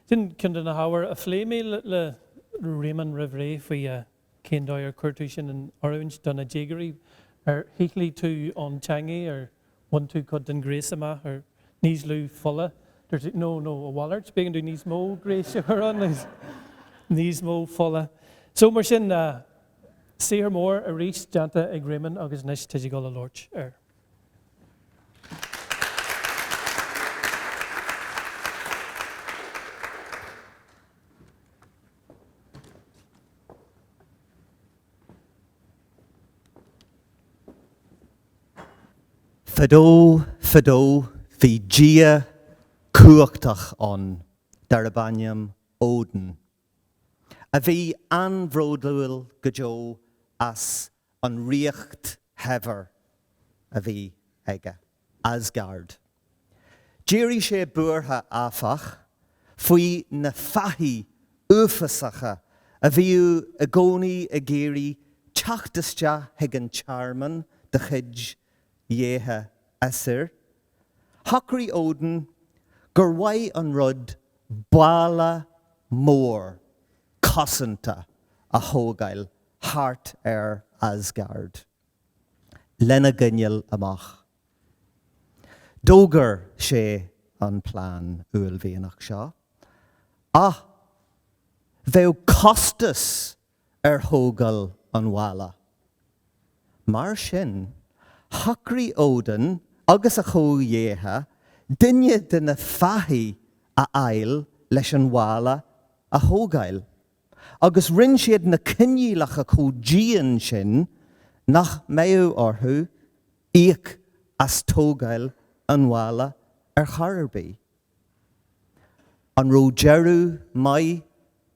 Sin ceann de na hábhair a phléigh mé le Réamonn roimh ré faoi cén dóigh ar chuir tú sin in oiriúint do na déagóirí. Ar shíothlaigh tú an teangaidh, ar bhain tú cuid den ghréas amach, ar níos lú fola dúirt tú nó, nó a mhalairt, b'éigean dúinn níos mó gréis a chur ann, níos mó fola. So, mar sin, Saothar mór arís déanta ag Réamonn agus anois tá tú ag dul a labhairt air. Fadó, fadó, bhí dia cumhachtach ann darb ainm Odin. a bhí an-bhródúil go deo as an ríocht shaibhir a bhí aige, Asgard. D'éirigh sé buartha, áfach, faoi na fathaigh uafásacha a bhíodh i gcónaí ag iarraidh teacht isteach chuig an tearmann de chuid dhéithe Aesir, Shocraigh Odin gur mhaith an rud balla mór cosanta a thógáil thart ar Asgard lena gcoinneáil amach. D'fhógair sé an plean uaillmhianach seo, ach bheadh costas ar thógáil an bhalla. Mar sin, shocraigh Odin agus a chomhdhéithe duine de na fathaigh a fháil leis an bhalla a thógáil, agus rinne siad na coinníollacha chomh dian sin nach mbeadh orthu íoc as tógáil an bhalla ar chor ar bith. An raibh deireadh maith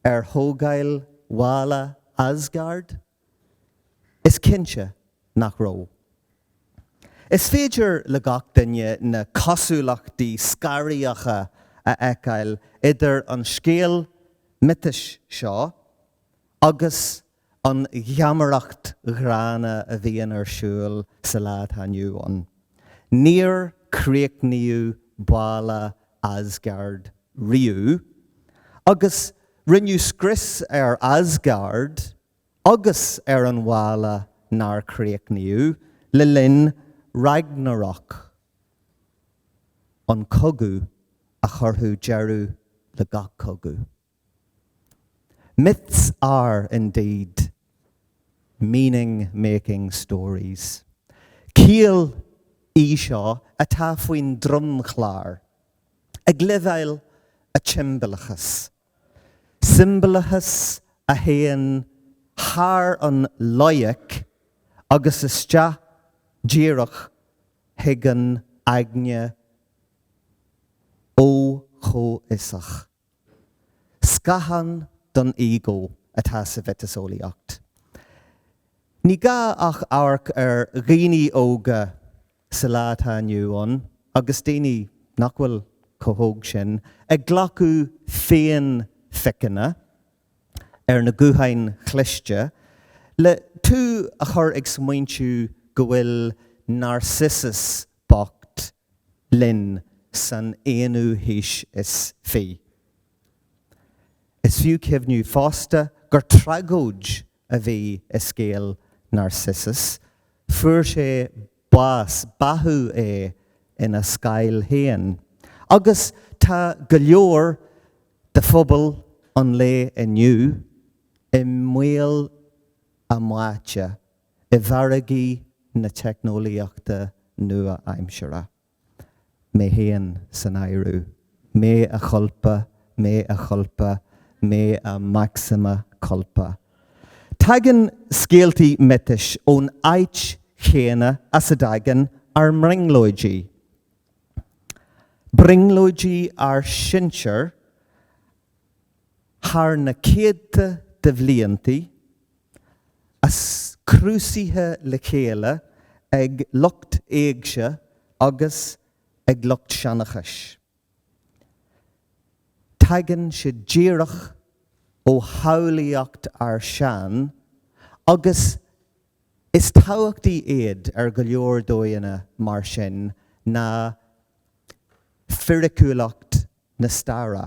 ar thógáil bhalla Asgard? Is cinnte nach raibh. Is féidir le gach duine na cosúlachtaí scanraitheacha a fheiceáil idir an scéal miotais seo agus an gheamaireacht ghránna a bhíonn ar siúl sa lá atá inniu ann. Níor críochnaíodh balla Asgard riamh, agus rinneadh scrios ar Asgard agus ar an bhalla nár críochnaíodh le linn Ragnarök, an cogadh a chuirfeadh deireadh le gach cogadh. Myths are, indeed, meaning-making stories. Ciall í seo atá faoin dromchlár ag leibhéal an tsiombalachais, siombalachas a théann thar an loighic agus isteach díreach chuig an aigne fho-chomhfhiosach. Scáthán don ego atá sa mhiotaseolaíocht. Ní gá ach amharc ar dhaoine óga sa lá atá inniu ann, agus daoine nach bhfuil chomh hóg sin, ag glacadh féinphiceanna ar na gutháin chliste, le tú a chur ag smaointiú go bhfuil Narcissus bocht linn san aonú haois is fiche. Is fiú cuimhneamh fosta gur tragóid a bhí i scéal Narcissus, fuair sé bás, báthadh é ina scáil féin, agus tá go leor de phobal an lae inniu i mbaol a mbáite i bhfarraigí na teicneolaíochta nua-aimseartha. Mé féin san áireamh. Mea culpa, mea culpa, mea maxima culpa. Tagann scéaltaí miotais ón áit chéanna as a dtagann ár mbrionglóidí. Brionglóidí ár sinsear thar na céadta de bhliantaí. Ascrúdaithe le chéile ag lucht éigse agus ag lucht seanchais. Tagann sé díreach ó shamhlaíocht ár sean agus is tábhachtaí iad ar go leor dóigheanna mar sin ná fíriciúlacht na staire.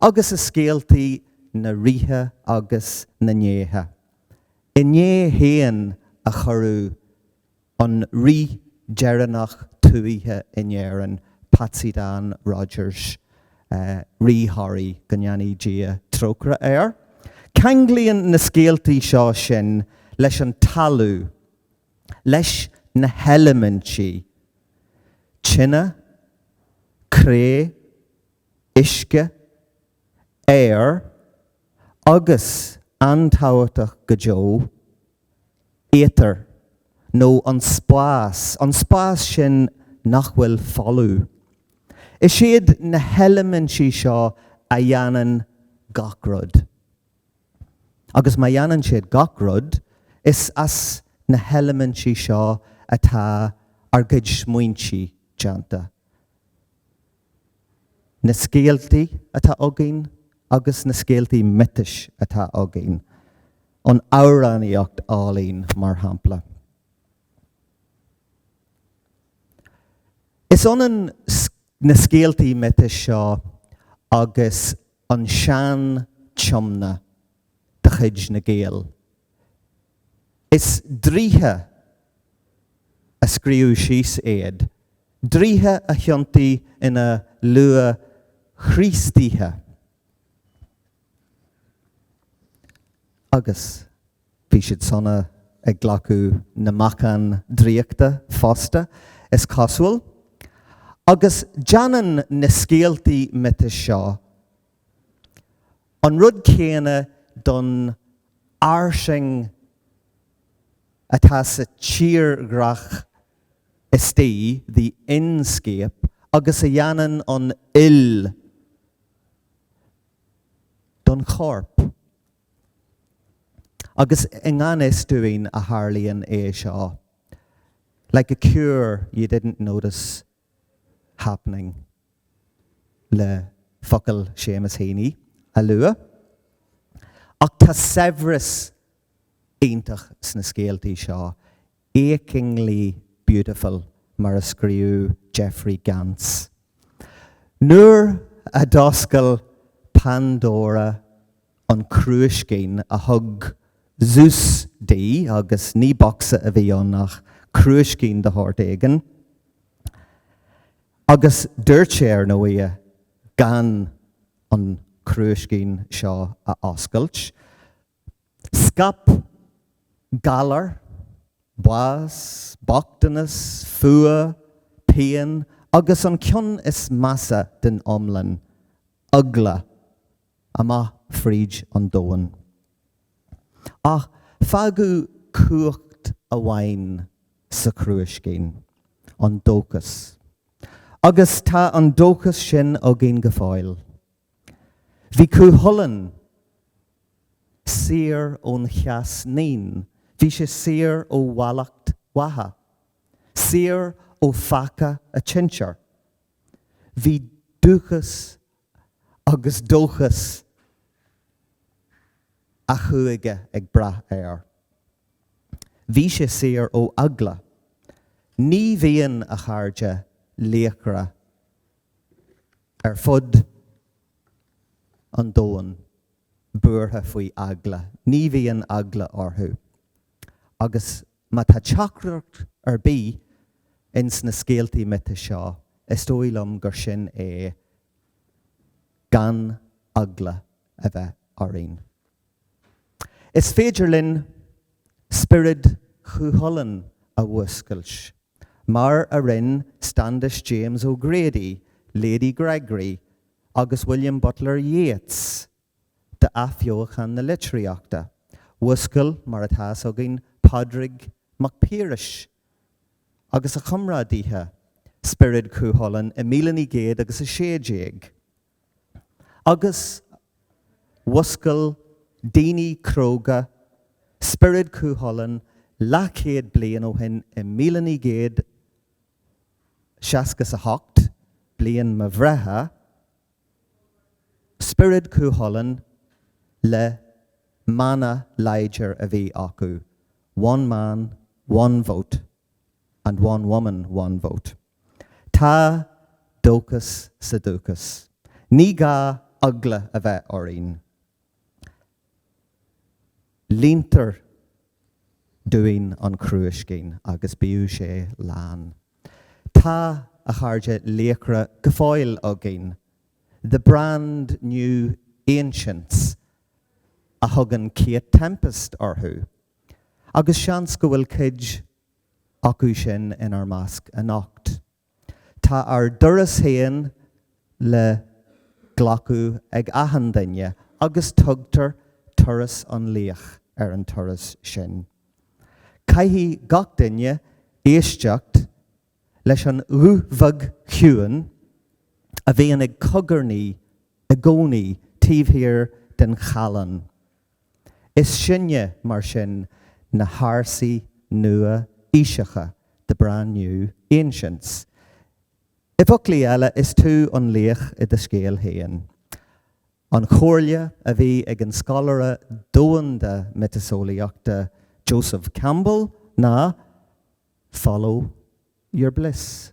agus i scéaltaí na rithe agus na ndéithe. Inné féin a cuireadh an rí deireanach tuaithe in Éirinn, Patsy Dan Rodgers, Rí Thoraí, go ndéanaí Dia trócaire air. Ceanglaíonn na scéaltaí seo sinn leis an talamh, leis na heilimintí, tine, cré, uisce, aer agus, an-tábhachtach go deo, éatar, nó an spás, an spás sin nach bhfuil folamh. Is iad na heilimintí seo a dhéanann gach rud. Agus má dhéanann siad gach rud, is as na heilimintí seo atá ár gcuid smaointe déanta. na scéaltaí atá againn agus na scéaltaí miotais atá againn, an amhránaíocht álainn, mar shampla. Is ionann na scéaltaí miotais seo agus an Sean-Tiomna de chuid na nGael. Is draoithe a scríobh síos iad, draoithe a thiontaigh ina luath-Chríostaithe. Agus bhí siad sona ag glacadh na meacan draíochta fosta, is cosúil. Agus déanann na scéaltaí miotais seo An rud céanna don fhairsing atá sa tírdhreach istigh, the inscape, agus a dhéanann an fhuil don chorp. Agus i ngan fhios dúinn a tharlaíonn é seo. Like a cure you didn't notice happening le focail Seamus Heaney a lua. Ach tá saibhreas iontach sna scéaltaí seo, achingly beautiful mar a scríobh Jeffrey Gantz. Nuair a d'oscail Pandora an crúiscín a thug Zeus di, agus ní bocsa a bhí ann ach crúiscín de shórt éigin, agus dúirt léi, ar ndóigh, gan an crúiscín seo a oscailt. Scaip galar, bás, bochtanas, fuath, pian, agus an ceann is measa den iomlán, eagla, amach fríd an domhan. Ach fágadh cumhacht amháin sa chrúiscín, an dóchas. Agus tá an dóchas sin againn go fóill. Bhí Cú Chulainn saor ón cheas naíon, bhí sé saor ó mhallacht Mhacha, saor ó pheaca an tsinsir. Bhí dúchas agus dóchas a chúige ag brath air. Bhí sé saor ó eagla. Ní bhíonn, a chairde, laochra ar fud an domhain buartha faoi eagla. Ní bhíonn eagla orthu. Agus Má tá teachtaireacht ar bith ins na scéaltaí miotais seo, is dóigh liom gur sin é, gan eagla a bheith orainn. Is féidir linn spiorad Chúchulainn a mhúscailt, mar a rinn Standish James O'Grady, Lady Gregory agus William Butler Yeats d'athbheochan na litríochta. Mhúscail, mar atá fhios againn, Pádraig Mac Piarais agus a chomrádaithe spiorad Chú Chulainn i míle naoi gcéad agus a sé déag. Agus mhúscail daoine cróga spiorad Chú Chulainn leathchéad bliain ó shin i míle naoi gcéad seasca 's a hocht, bliain mo bhreithe, Spiorad Cúchulainn le mana láidir a bhí acu, One man, one vote, and one woman, one vote. Tá dóchas sa dúchas. Ní gá eagla a bheith orainn. Líontar dúinn an crúiscín agus bíodh sé lán. Tá, a chairde, Laochra go fóill againn, the brand new Ancients a thugann Kate Tempest orthu, agus seans go bhfuil cuid acu sin inár measc anocht. Tá ár dturas féin le glacadh ag achan duine agus tugtar Turas an Laoich ar an turas sin. Caithfidh gach duine éisteacht leis an ghuth bheag chiúin a bhíonn ag cogarnaí i gcónaí taobh thiar den challán. Is sinne, mar sin, na hársaí nua-aoiseacha, the brand new ancients. I bhfoclaí eile, is tú an laoch i do scéal féin. An chomhairle a bhí ag an scoláire domhanda miotaseolaíochta Joseph Campbell ná, Follow your bliss.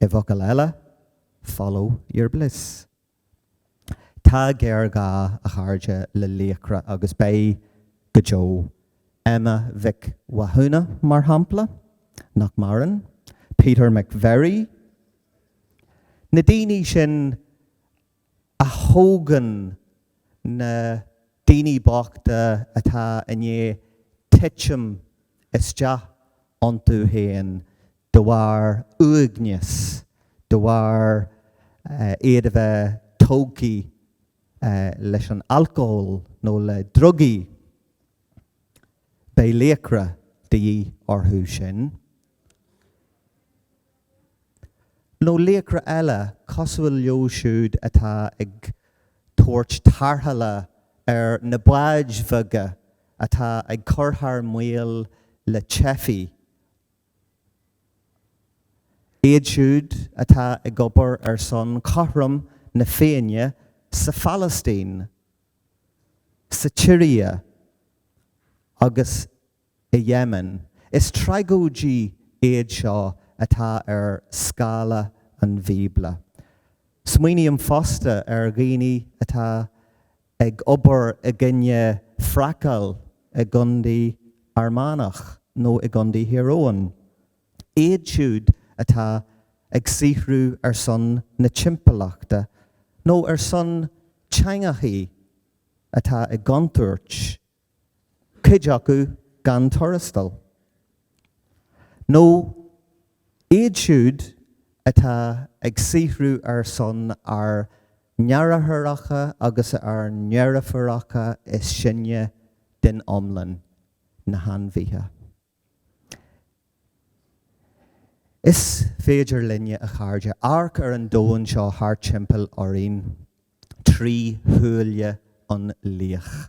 I bhfocail eile, follow your bliss. Tá géarghá, a chairde, le laochra agus beidh go deo. Emma Mhic Mhathúna, mar shampla, nach maireann, Peter McVerry, na daoine sin a thógann na daoine bochta atá i ndiaidh titim isteach iontu féin de bharr uaigneas, de bharr iad a bheith tógtha leis an alcól nó le drugaí. Beidh laochra de dhíth orthu sin. nó laochra eile cosúil leo siúd atá ag tabhairt tarrthála ar na báid bheaga atá ag cur thar maoil le teifigh, iad siúd atá ag obair ar son chothrom na Féinne sa Phalaistín, sa tSiria agus i Yemen. Is tragóidí iad seo atá ar scála an Bhíobla. Smaoiním fosta ar dhaoine atá ag obair i gcoinne fraiceáil i gcontae Fhear Manach nó i gcontae Thír Eoghain. Iad siúd atá ag saothrú ar son na timpeallachta nó ar son teangacha atá i gcontúirt. cuid acu gan tuarastal, nó iad siúd atá ag saothrú ar son ár ndeartháireacha agus ár ndeirfiúracha is sine den iomlán, na hainmhithe. Is féidir linne, a chairde, amharc ar an domhan seo thart timpeall orainn trí shúile an laoich.